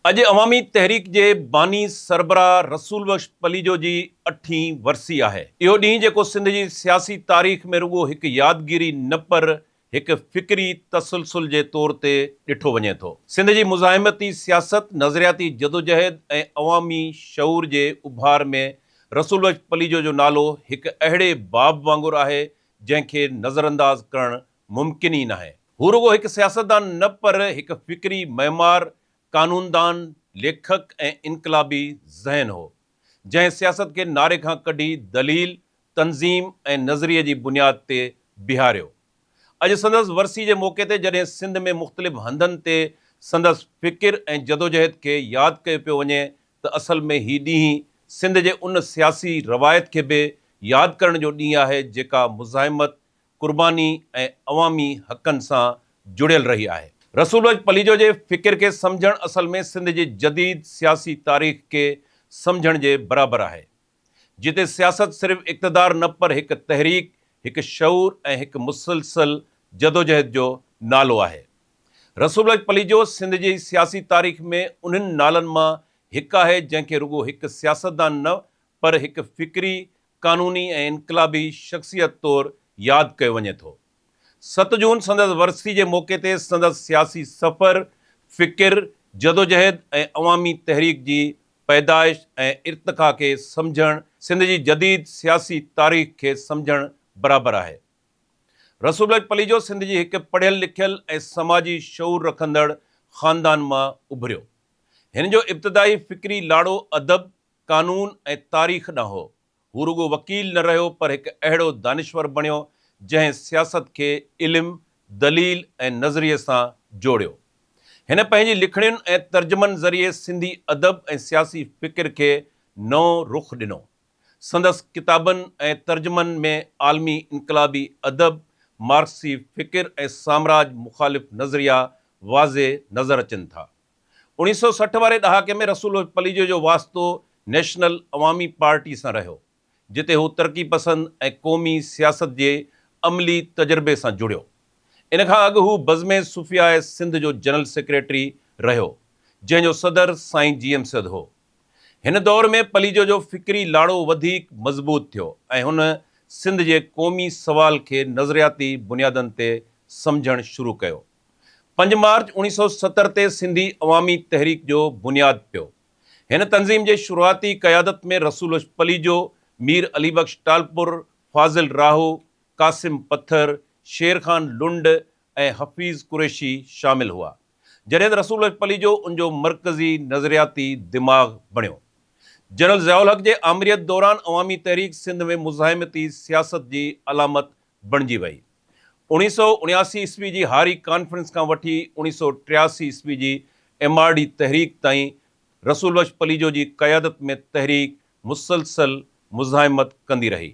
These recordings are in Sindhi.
اڄ عوامي تحريڪ جي باني سربراهه رسول بخش پليجو جي اٺين ورسي آهي. اهو ڏينهن جيڪو سنڌ جي سياسي تاريخ ۾ رڳو هڪ يادگيري نه پر هڪ فڪري تسلسل جي طور تي ڏٺو وڃي ٿو. سنڌ جي مزاحمتي سياست، نظرياتي جدوجهد ۽ عوامي شعور جي اڀار ۾ رسول بخش پليجو جو نالو هڪ اهڙي باب وانگر آهي جنهن کي نظرانداز ڪرڻ ممڪن ئي ناهي. هو رڳو هڪ سياستدان نه پر هڪ فڪري معمار، قانوندان، ليکڪ ۽ انقلابي ذهن هو، جنهن سياست کي نعري کان ڪڍي دليل، تنظيم ۽ نظريي جي بنياد تي بيهاريو. اڄ سندس ورسي جي موقعي تي جڏهن سنڌ ۾ مختلف هنڌن تي سندس فڪر ۽ جدوجهد کي ياد ڪيو پيو وڃي ته اصل ۾ هي ڏينهن سنڌ جي ان سياسي روايت کي به ياد ڪرڻ جو ڏينهن آهي جيڪا مزاحمت، قرباني ۽ عوامي حقن سان جڙيل رهي آهي. رسول بخش پليجو جي فڪر کي سمجهڻ اصل ۾ سنڌ جي جديد سياسي تاريخ کي سمجهڻ جي برابر آهي، جتي سياست صرف اقتدار نه پر هڪ تحريڪ، هڪ شعور ۽ هڪ مسلسل جدوجهد جو نالو آهي. رسول بخش پليجو سنڌ جي سياسي تاريخ ۾ انهن نالن مان هڪ آهي جنهن کي رڳو هڪ سياستدان نه پر هڪ فڪري قانوني ۽ انقلابي شخصيت طور ياد ڪيو وڃي ٿو. ست جون سندس ورسي جي موقعي تي سندس سياسي سفر، فڪر، جدوجهد ۽ عوامي تحريڪ جي پيدائش ۽ ارتقا کي سمجهڻ سنڌ جي جديد سياسي تاريخ کي سمجهڻ برابر آهي. رسول بيگ پليجو سنڌ جي هڪ پڙهيل لکيل ۽ سماجي شعور رکندڙ خاندان مان اڀريو. هن جو ابتدائي فڪري لاڙو ادب، قانون ۽ تاريخ ڏانهن هو. هو رڳو وڪيل نه رهيو پر هڪ اهڙو دانشور بڻيو جنهن سياست کي علم، دليل ۽ نظريي سان جوڙيو. هن پنهنجي لکڻين ۽ ترجمن ذريعي سنڌي ادب ۽ سياسي فڪر کي نئون رخ ڏنو. سندس ڪتابن ۽ ترجمن ۾ عالمي انقلابي ادب، مارڪسي فڪر ۽ سامراج مخالف نظريا واضح نظر اچن ٿا. اوڻيهه سؤ سٺ واري ڏهاڪي ۾ رسول پليجو جو واسطو نيشنل عوامي پارٽي سان رهيو، جتي هو ترقي پسند ۽ قومي سياست جي عملي تجربي سان جڙيو. ان کان اڳ هو بزم صوفياء سنڌ جو جنرل سيڪريٽري رهيو، جنهن جو صدر سائين جي ايم سيد هو. هن دور ۾ پليجو جو فڪري لاڙو وڌيڪ مضبوط ٿيو ۽ هن سنڌ جي قومي سوال کي نظرياتي بنيادن تي سمجهڻ شروع ڪيو. پنج مارچ اوڻيهه سؤ ستر تي سنڌي عوامي تحريڪ جو بنياد پيو. هن تنظيم جي شروعاتي قيادت ۾ رسول پليجو، مير علي بخش ٽالپر، فاضل راهو، قاسم پٿر، شير خان لنڊ ۽ حفيظ قريشي شامل هئا. جڏهن ته رسول پليجو ان جو مرڪزي نظرياتي دماغ بڻيو. جنرل ضياء الحق جي آمريت دوران عوامي تحريڪ سنڌ ۾ مزاحمتي سياست جي علامت بڻجي وئي. اوڻيهه سؤ اڻياسي عيسوي جي هاري ڪانفرنس کان وٺي اوڻيهه سؤ ٽياسي عيسوي جي ايم آر ڊي تحريڪ تائين رسول بخش پليجو جي قيادت ۾ تحريڪ مسلسل مزاحمت ڪندي رهي.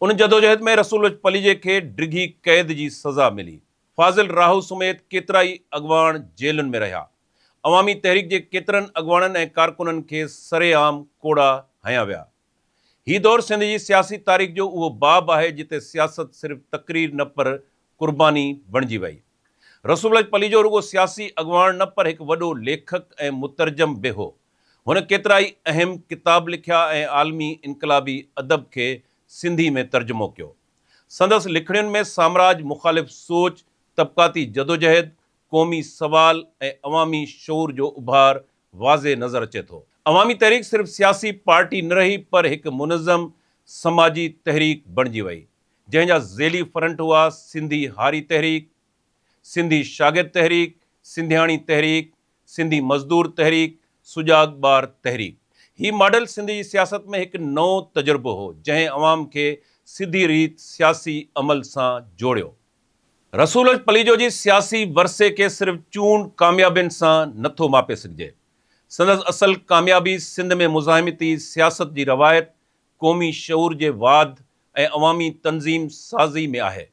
ان جدوجهد ۾ رسول بخش پليجي کي ڊگهي قيد جي سزا ملي. فاضل راهو سميت ڪيترائي اڳواڻ جيلن ۾ رهيا. عوامي تحريڪ جي ڪيترن اڳواڻن ۽ ڪارڪنن کي سرعام ڪوڙا هنيا ويا. هي دور سنڌ جي سياسي تاريخ جو اهو باب آهي جتي سياست صرف تقرير نه پر قرباني بڻجي وئي. رسول لجه پليجو رڳو سياسي اڳواڻ نه پر هڪ وڏو ليکڪ ۽ مترجم به هو. هن ڪيترائي اهم ڪتاب لکيا ۽ عالمي انقلابي ادب کي سنڌي ۾ ترجمو ڪيو. سندس لکڻين ۾ سامراج مخالف سوچ، طبقاتي جدوجهد، قومي سوال ۽ عوامي شعور جو اڀار واضح نظر اچي ٿو. عوامي تحريڪ صرف سياسي پارٽي نه رهي پر هڪ منظم سماجي تحريڪ بڻجي وئي جنهن جا ذيلي فرنٽ هئا سنڌي هاري تحريڪ، سنڌي شاگرد تحريڪ، سنڌياڻي تحريڪ، سنڌي مزدور تحريڪ، سجاڳ ٻار تحريڪ. هي ماڊل سنڌ جي سياست ۾ هڪ نئون تجربو هو جنهن عوام کي سڌي ريت سياسي عمل سان جوڙيو. رسولج پليجو جي سياسي ورثي کي صرف چونڊ ڪاميابين سان نه ٿو ماپي سگهجي. سندس اصل ڪاميابي سنڌ ۾ مزاحمتي سياست جي روايت، قومي شعور جي واڌ ۽ عوامي تنظيم سازي ۾ آهي.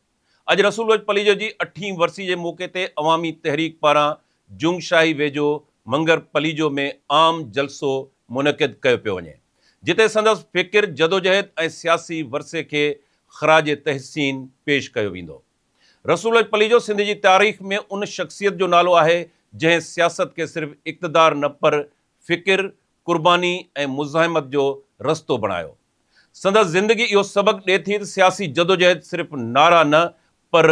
اڄ رسولج پليجو جي اٺين ورسي جي موقعي تي عوامي تحريڪ پاران جنگ شاهي ويجهو منگر پليجو ۾ عام جلسو منعقد ڪيو پيو وڃي جتي سندس فڪر، جدوجهد ۽ سياسي ورثي کي خراج تحسين پيش ڪيو ويندو. رسول اجپليجو سنڌ جي تاريخ ۾ ان شخصيت جو نالو آهي جنهن سياست کي صرف اقتدار نه پر فڪر، قرباني ۽ مزاحمت جو رستو بڻايو. سندس زندگي اهو سبق ڏي ٿي ته سياسي جدوجهد صرف نعرا نه پر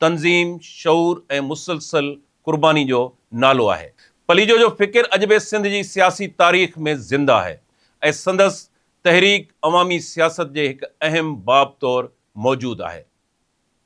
تنظيم، شعور ۽ مسلسل قرباني جو نالو آهي. پليجو جو فڪر اڄ به سنڌ جي سياسي تاريخ ۾ زنده آهي ۽ سندس تحريڪ عوامي سياست جي هڪ اهم باب طور موجود آهي.